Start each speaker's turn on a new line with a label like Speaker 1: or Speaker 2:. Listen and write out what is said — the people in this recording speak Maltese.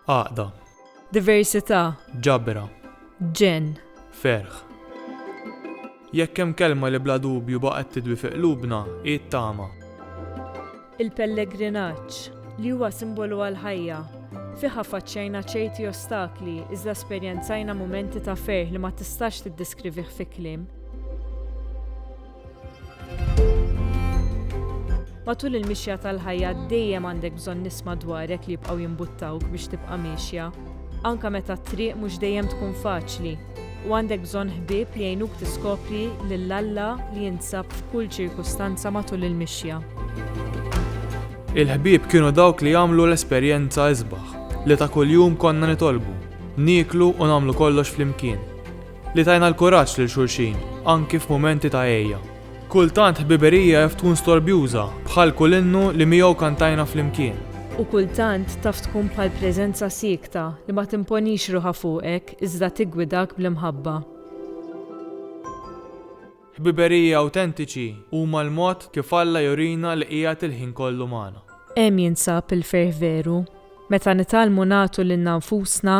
Speaker 1: Għaqda. Diversità.
Speaker 2: Ġabra.
Speaker 1: Ġenn.
Speaker 2: Ferħ.
Speaker 1: Jekk hemm kelma li bla dubju baqgħet tidwi fi qlubna, hi t-tama. Il-pellegrinaġġ,
Speaker 2: li huwa simbolu għall-ħajja, fih affaċċjajna ċerti ostakli iżda esperjenzajna mumenti ta' ferħ li ma tistax tiddiskriviħ fi kliem. Matul il-mixja tal-ħajja dejjem għandek bżonn nies madwarek li jibqgħu jimbuttawk biex tibqa' miexja, anke meta t-triq mhux dejjem tkun faċli, u għandek bżonn ħbieb li jgħinuk tiskopri lil Alla li jinsab f'kull ċirkustanza matul il-mixja.
Speaker 1: Il-ħbieb kienu dawk li għamlu l-esperjenza isbaħ li ta' kuljum konna nitolbu, nieklu u nagħmlu kollox flimkien. Li tajna l-kuraġġ lil xulxin, anki f'mumenti ta' għejja. Kultant ħbiberija jaf tkun storbjuża, bħal kull innu li miegħu kantajna flimkien. U kultant
Speaker 2: taf tkun bħal preżenza siekta li ma timponix ruħha fuqek iżda tiggwidak bl-imħabba.
Speaker 1: Ħbiberiji awtentiċi huma l-mod kif Alla jurina li qiegħed il-ħin kollu magħna. Hemm jinsab
Speaker 2: il-ferħ veru, meta nitgħallmu nagħtu lilna nfusna